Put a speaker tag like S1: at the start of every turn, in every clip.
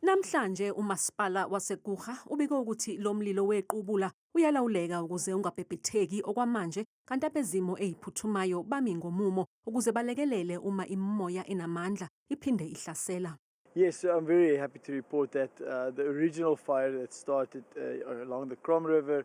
S1: Namhlanje uMasipala waseKurha ubike ukuthi lo mlilo wequbula uyalawuleka ukuze ungabhebhetheki okwamanje kanti abezimo eziphuthumayo bami ngomumo ukuze balekelele uma imimoya enamandla iphinde ihlasela. Yes, I'm very
S2: happy to report that uh, the original fire that started uh, along the Crom River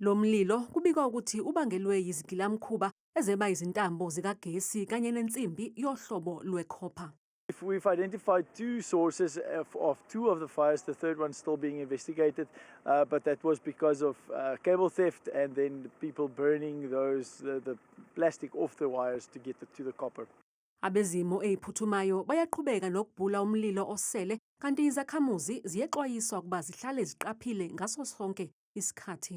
S2: Lo mlilo
S1: kubikwa ukuthi ubangelwe yizigilamkhuba ezeba izintambo zikagesi kanye nensimbi yohlobo lwe-copper. We've
S2: identified two sources of, of, two of the fires, the third one still being investigated, uh, but that was because of uh, cable theft and then people burning those the, the plastic off the wires to get the, to the copper. Abezimo
S1: eziphuthumayo bayaqhubeka nokubhula umlilo osele kanti izakhamuzi ziyexwayiswa ukuba zihlale ziqaphile ngaso sonke isikhathi.